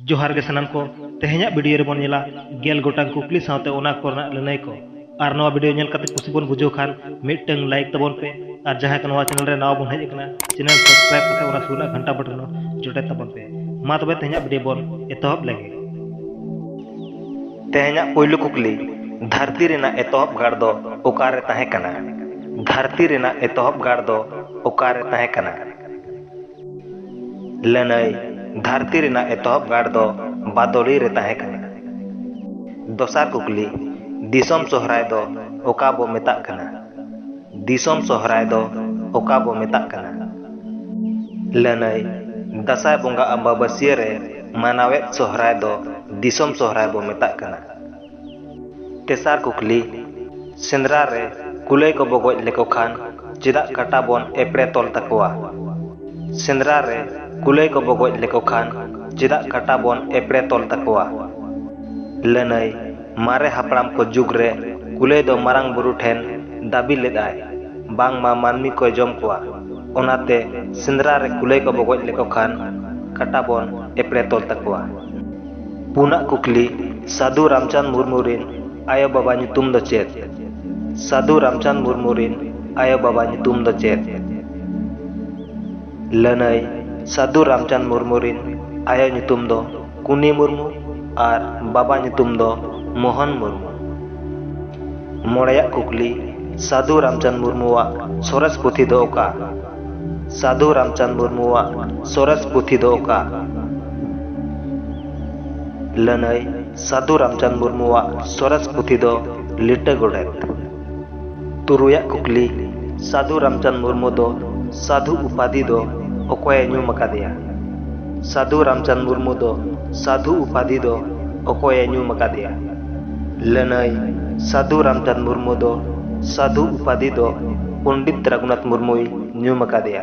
ᱡᱚᱦᱟᱨ ᱜᱮ ᱥᱟᱱᱟᱢ ᱠᱚ ᱛᱮᱦᱮᱧᱟᱜ ᱵᱷᱤᱰᱤᱭᱳ ᱨᱮᱵᱚᱱ ᱧᱮᱞᱟ ᱜᱮᱞ ᱜᱚᱴᱟᱝ ᱠᱩᱠᱞᱤ ᱥᱟᱶᱛᱮ ᱚᱱᱟ ᱠᱚᱨᱮᱱᱟᱜ ᱞᱟᱹᱱᱟᱹᱭ ᱠᱚ ᱟᱨ ᱱᱚᱣᱟ ᱵᱷᱤᱰᱤᱭᱳ ᱧᱮᱞ ᱠᱟᱛᱮ ᱠᱩᱥᱤ ᱵᱚᱱ ᱵᱩᱡᱷᱟᱹᱣ ᱠᱷᱟᱱ ᱢᱤᱫᱴᱟᱝ ᱞᱟᱭᱤᱠ ᱛᱟᱵᱚᱱ ᱯᱮ ᱟᱨ ᱡᱟᱦᱟᱸᱭ ᱠᱚ ᱱᱚᱣᱟ ᱪᱮᱱᱮᱞ ᱨᱮ ᱱᱟᱣᱟ ᱵᱚᱱ ᱦᱮᱡ ᱟᱠᱟᱱᱟ ᱪᱮᱱᱮᱞ ᱥᱟᱵᱥᱠᱨᱟᱭᱤᱵ ᱠᱟᱛᱮ ᱚᱱᱟ ᱥᱩᱨ ᱨᱮᱱᱟᱜ ᱜᱷᱟᱱᱴᱟ ᱵᱚᱴᱚᱱ ᱡᱚᱴᱮᱫ ᱛᱟᱵᱚᱱ ᱯᱮ ᱢᱟ ᱛᱚᱵᱮ ᱛᱮᱦᱮᱧᱟᱜ ᱵᱷᱤᱰᱤᱭᱳ ᱵᱚᱱ ᱮᱛᱚᱦᱚᱵ ᱞᱮᱜᱮ ᱛᱮᱦᱮᱧᱟᱜ ᱯᱳᱭᱞᱳ ᱠᱩᱠᱞᱤ ᱫᱷᱟᱹᱨᱛᱤ ᱨᱮᱱᱟᱜ ᱮᱛᱚᱦᱚᱵ ᱜᱟᱲ ᱫᱚ ᱚᱠᱟᱨᱮ ᱛᱟᱦᱮᱸ ᱠᱟᱱᱟ ᱫᱷᱟᱹᱨᱛᱤ ᱨᱮᱱᱟᱜ ᱮᱛᱚᱦᱚᱵ ᱜᱟᱲ ᱫᱚ ᱚᱠᱟᱨᱮ ᱛᱟᱦᱮᱸ ᱠᱟᱱᱟ ᱞᱟᱹᱱᱟᱹᱭ ᱫᱷᱟᱹᱨᱛᱤ ᱨᱮᱱᱟᱜ ᱮᱛᱚᱦᱚᱵ ᱜᱟᱲ ᱫᱚ ᱵᱟᱫᱚᱞᱤ ᱨᱮ ᱛᱟᱦᱮᱸ ᱠᱟᱱᱟ᱾ ᱫᱚᱥᱟᱨ ᱠᱩᱠᱞᱤ, ᱫᱤᱥᱚᱢ ᱥᱚᱦᱨᱟᱭ ᱫᱚ ᱚᱠᱟ ᱵᱚ ᱢᱮᱛᱟᱜ ᱠᱟᱱᱟ? ᱫᱤᱥᱚᱢ ᱥᱚᱦᱨᱟᱭ ᱫᱚ ᱚᱠᱟ ᱵᱚ ᱢᱮᱛᱟᱜ ᱠᱟᱱᱟ? ᱞᱟᱹᱱᱟᱹᱭ ᱫᱟᱥᱟᱸᱭ ᱵᱚᱸᱜᱟ ᱟᱢᱵᱟᱵᱟᱹᱥᱭᱟᱹ ᱨᱮ ᱢᱟᱱᱟᱣᱮᱫ ᱥᱚᱦᱨᱟᱭ ᱫᱚ ᱫᱤᱥᱚᱢ ᱥᱚᱦᱨᱟᱭ ᱵᱚ ᱢᱮᱛᱟᱜ ᱠᱟᱱᱟ᱾ ᱛᱮᱥᱟᱨ ᱠᱩᱠᱞᱤ, ᱥᱮᱸᱫᱽᱨᱟ ᱨᱮ ᱠᱩᱞᱟᱹᱭ ᱠᱚ ᱵᱚ ᱜᱚᱡ ᱞᱮᱠᱚ ᱠᱷᱟᱱ ᱪᱮᱫᱟᱜ ᱠᱟᱴᱟ ᱵᱚᱱ ᱮᱯᱲᱮ ᱛᱚᱞ ᱛᱟᱠᱚᱣᱟ? ᱥᱮᱸᱫᱽᱨᱟ ᱨᱮ ᱠᱩᱞᱟᱹᱭ ᱠᱚ ᱵᱚ ᱜᱚᱡ ᱞᱮᱠᱚ ᱠᱷᱟᱱ ᱪᱮᱫᱟᱜ ᱠᱟᱴᱟ ᱵᱚᱱ ᱮᱯᱲᱮ ᱛᱚᱞ ᱛᱟᱠᱚᱣᱟ? ᱞᱟᱹᱱᱟᱹᱭ, ᱢᱟᱨᱮ ᱦᱟᱯᱲᱟᱢ ᱠᱚ ᱡᱩᱜᱽ ᱨᱮ ᱠᱩᱞᱟᱹᱭ ᱫᱚ ᱢᱟᱨᱟᱝ ᱵᱩᱨᱩ ᱴᱷᱮᱱ ᱫᱟᱹᱵᱤ ᱞᱮᱫ ᱟᱭ ᱵᱟᱝ ᱢᱟ ᱢᱟᱹᱱᱢᱤ ᱠᱚᱭ ᱡᱚᱢ ᱠᱚᱣᱟ, ᱚᱱᱟ ᱛᱮ ᱥᱮᱸᱫᱽᱨᱟ ᱨᱮ ᱠᱩᱞᱟᱹᱭ ᱠᱚ ᱵᱚ ᱜᱚᱡ ᱞᱮᱠᱚ ᱠᱷᱟᱱ ᱠᱟᱴᱟ ᱵᱚᱱ ᱮᱯᱲᱮ ᱛᱚᱞ ᱛᱟᱠᱚᱣᱟ᱾ ᱯᱩᱱᱟᱜ ᱠᱩᱠᱞᱤ, ᱥᱟᱫᱷᱩ ᱨᱟᱢᱪᱟᱸᱫᱽ ᱢᱩᱨᱢᱩ ᱨᱤᱱ ᱟᱭᱳ ᱵᱟᱵᱟ ᱧᱩᱛᱩᱢ ᱫᱚ ᱪᱮᱫ? ᱥᱟᱫᱷᱩ ᱨᱟᱢᱪᱟᱸᱫᱽ ᱢᱩᱨᱢᱩ ᱨᱤᱱ ᱟᱭᱳ ᱵᱟᱵᱟ ᱧᱩᱛᱩᱢ ᱫᱚ ᱪᱮᱫ? ᱞᱟᱹᱱᱟᱹᱭ, ᱥᱟᱫᱷᱩ ᱨᱟᱢᱪᱟᱸᱫᱽ ᱢᱩᱨᱢᱩ ᱨᱤᱱ ᱟᱭᱳ ᱧᱩᱛᱩᱢ ᱫᱚ ᱠᱩᱱᱤ ᱢᱩᱨᱢᱩ ᱟᱨ ᱵᱟᱵᱟ ᱧᱩᱛᱩᱢ ᱫᱚ ᱢᱳᱦᱚᱱ ᱢᱩᱨᱢᱩ᱾ ᱢᱚᱬᱮᱭᱟᱜ ᱠᱩᱠᱞᱤ, ᱥᱟᱫᱷᱩ ᱨᱟᱢᱪᱟᱸᱫᱽ ᱢᱩᱨᱢᱩ ᱣᱟᱜ ᱥᱚᱨᱮᱥ ᱯᱩᱛᱷᱤ ᱫᱚ ᱚᱠᱟ? ᱥᱟᱫᱷᱩ ᱨᱟᱢᱪᱟᱸᱫᱽ ᱢᱩᱨᱢᱩᱣᱟᱜ ᱥᱚᱨᱮᱥ ᱯᱩᱛᱷᱤ ᱫᱚ ᱚᱠᱟ? ᱞᱟᱹᱱᱟᱹᱭ ᱥᱟᱫᱷᱩ ᱨᱟᱢᱪᱟᱸᱫᱽ ᱢᱩᱨᱢᱩᱣᱟᱜ ᱥᱚᱨᱮᱥ ᱯᱩᱛᱷᱤ ᱫᱚ ᱞᱤᱴᱟᱹ ᱜᱚᱰᱮᱛ᱾ ᱛᱩᱨᱩᱭᱟᱜ ᱠᱩᱠᱞᱤ, ᱥᱟᱫᱷᱩ ᱨᱟᱢᱪᱟᱸᱫᱽ ᱢᱩᱨᱢᱩ ᱫᱚ ᱥᱟᱫᱷᱩ ᱩᱯᱟᱫᱷᱤ ᱫᱚ ᱚᱠᱚᱭ ᱮ ᱧᱩᱢ ᱟᱠᱟᱫᱮᱭᱟ? ᱥᱟᱫᱷᱩ ᱨᱟᱢᱪᱟᱸᱫᱽ ᱢᱩᱨᱢᱩ ᱫᱚ ᱥᱟᱫᱷᱩ ᱩᱯᱟᱫᱷᱤ ᱫᱚ ᱚᱠᱚᱭ ᱮ ᱧᱩᱢ ᱟᱠᱟᱫᱮᱭᱟ? ᱞᱟᱹᱱᱟᱹᱭ ᱥᱟᱹᱫᱷᱩ ᱨᱟᱢᱪᱟᱸᱫᱽ ᱢᱩᱨᱢᱩ ᱫᱚ ᱥᱟᱹᱫᱷᱩ ᱩᱯᱟᱫᱷᱤ ᱫᱚ ᱯᱚᱱᱰᱤᱛ ᱨᱟᱹᱜᱷᱩᱱᱟᱛᱷ ᱢᱩᱨᱢᱩᱭ ᱧᱩᱢ ᱟᱠᱟᱫᱮᱭᱟ᱾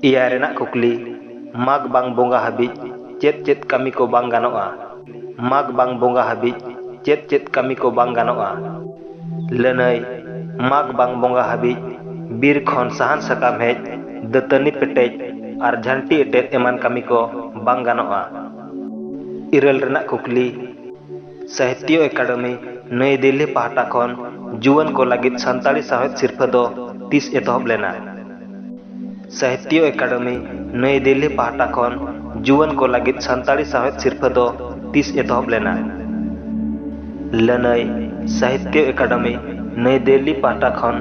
ᱮᱭᱟᱭ ᱨᱮᱱᱟᱜ ᱠᱩᱠᱞᱤ, ᱢᱟᱜᱽ ᱵᱟᱝ ᱵᱚᱸᱜᱟ ᱦᱟᱹᱵᱤᱡ ᱪᱮᱫ ᱪᱮᱫ ᱠᱟᱹᱢᱤ ᱠᱚ ᱵᱟᱝ ᱜᱟᱱᱚᱜᱼᱟ? ᱢᱟᱜᱽ ᱵᱟᱝ ᱵᱚᱸᱜᱟ ᱦᱟᱹᱵᱤᱡ ᱪᱮᱫ ᱪᱮᱫ ᱠᱟᱹᱢᱤ ᱠᱚ ᱵᱟᱝ ᱜᱟᱱᱚᱜᱼᱟ? ᱞᱟᱹᱱᱟᱹᱭ ᱢᱟᱜᱽ ᱵᱟᱝ ᱵᱚᱸᱜᱟ ᱦᱟᱹᱵᱤᱡ ᱵᱤᱨ ᱠᱷᱚᱱ ᱥᱟᱦᱟᱱ ᱥᱟᱠᱟᱢ ᱦᱮᱡ, ᱫᱟᱹᱛᱟᱹᱱᱤ ᱯᱮᱴᱮᱡ ᱟᱨ ᱡᱷᱟᱹᱱᱴᱤ ᱮᱴᱮᱫ ᱮᱢᱟᱱ ᱠᱟᱹᱢᱤ ᱠᱚ ᱵᱟᱝ ᱜᱟᱱᱚᱜᱼᱟ᱾ ᱤᱨᱟᱹᱞ ᱨᱮᱱᱟᱜ ᱠᱩᱠᱞᱤ ᱥᱟᱦᱤᱛᱭᱚ ᱮᱠᱟᱰᱮᱢᱤ ᱱᱟᱹᱭ ᱫᱤᱞᱞᱤ ᱯᱟᱦᱴᱟ ᱠᱷᱚᱱ ᱡᱩᱣᱟᱹᱱ ᱠᱚ ᱞᱟᱹᱜᱤᱫ ᱥᱟᱱᱛᱟᱲᱤ ᱥᱟᱶᱦᱮᱫ ᱥᱤᱨᱯᱷᱟᱹ ᱫᱚ ᱛᱤᱥ ᱮᱛᱚᱦᱚᱵ ᱞᱮᱱᱟ ᱥᱟᱦᱤᱛᱭᱚ ᱮᱠᱟᱰᱮᱢᱤ ᱱᱟᱹᱭ ᱫᱤᱞᱞᱤ ᱯᱟᱦᱴᱟ ᱠᱷᱚᱱ ᱡᱩᱣᱟᱹᱱ ᱠᱚ ᱞᱟᱹᱜᱤᱫ ᱥᱟᱱᱛᱟᱲᱤ ᱥᱟᱶᱦᱮᱫ ᱥᱤᱨᱯᱷᱟᱹ ᱫᱚ ᱛᱤᱥ ᱮᱛᱚᱦᱚᱵ ᱞᱮᱱᱟ ᱞᱟᱹᱱᱟᱹᱭ ᱥᱟᱦᱤᱛᱭᱚ ᱮᱠᱟᱰᱮᱢᱤ ᱱᱟᱹᱭ ᱫᱤᱞᱞᱤ ᱯᱟᱦᱴᱟ ᱠᱷᱚᱱ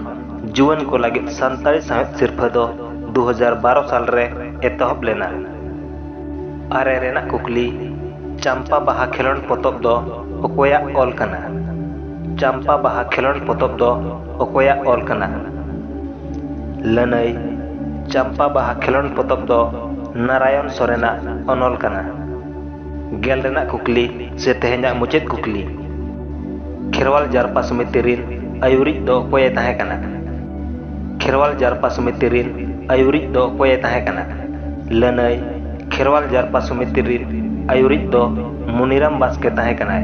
ᱡᱩᱣᱟᱹᱱ ᱠᱚ ᱞᱟᱹᱜᱤᱫ ᱥᱟᱱᱛᱟᱲᱤ ᱥᱟᱶᱦᱮᱫ ᱥᱤᱨᱯᱷᱟᱹ ᱫᱚ ᱫᱩ ᱦᱟᱡᱟᱨ ᱵᱟᱨᱚ ᱥᱟᱞ ᱨᱮ ᱮᱛᱚᱦᱚᱵ ᱞᱮᱱᱟ ᱟᱨᱮ ᱨᱮᱱᱟᱜ ᱠᱩᱠᱞᱤ ᱪᱟᱢᱯᱟ ᱵᱟᱦᱟ ᱠᱷᱮᱞᱳᱰ ᱯᱚᱛᱚᱵ ᱫᱚ ᱚᱠᱚᱭᱟᱜ ᱚᱞ ᱠᱟᱱᱟ ᱪᱟᱢᱯᱟ ᱵᱟᱦᱟ ᱠᱷᱮᱞᱳᱰ ᱯᱚᱛᱚᱵ ᱫᱚ ᱚᱠᱚᱭᱟᱜ ᱚᱞ ᱠᱟᱱᱟ ᱞᱟᱹᱱᱟᱹᱭ ᱪᱟᱢᱯᱟ ᱵᱟᱦᱟ ᱠᱷᱮᱞᱳᱰ ᱯᱚᱛᱚᱵ ᱫᱚ ᱱᱟᱨᱟᱭᱚᱱ ᱥᱚᱨᱮᱱᱟᱜ ᱚᱱᱚᱞ ᱠᱟᱱᱟ ᱜᱮᱞ ᱨᱮᱱᱟᱜ ᱠᱩᱠᱞᱤ ᱥᱮ ᱛᱮᱦᱮᱧᱟᱜ ᱢᱩᱪᱟᱹᱫ ᱠᱩᱠᱞᱤ ᱠᱷᱮᱨᱣᱟᱞ ᱡᱟᱨᱯᱟ ᱥᱚᱢᱤᱛᱤ ᱨᱤᱱ ᱟᱭᱩᱨᱤᱡ ᱫᱚ ᱚᱠᱚᱭᱮ ᱛᱟᱦᱮᱸ ᱠᱟᱱᱟ ᱠᱷᱮᱨᱣᱟᱞ ᱡᱟᱨᱯᱟ ᱥᱚᱢᱤᱛᱤ ᱨᱤᱱ ᱟᱭᱩᱨᱤᱡ ᱫᱚ ᱚᱠᱚᱭᱮ ᱛᱟᱦᱮᱸ ᱠᱟᱱᱟ ᱞᱟᱹᱱᱟᱹᱭ ᱠᱷᱮᱨᱣᱟᱞ ᱡᱟᱨᱯᱟ ᱥᱚᱢᱤᱛᱤ ᱨᱤᱱ ᱟᱹᱭᱩᱨᱤᱡ ᱫᱚ ᱢᱩᱱᱤᱨᱟᱢ ᱵᱟᱥᱠᱮ ᱛᱟᱦᱮᱸ ᱠᱟᱱᱟᱭ᱾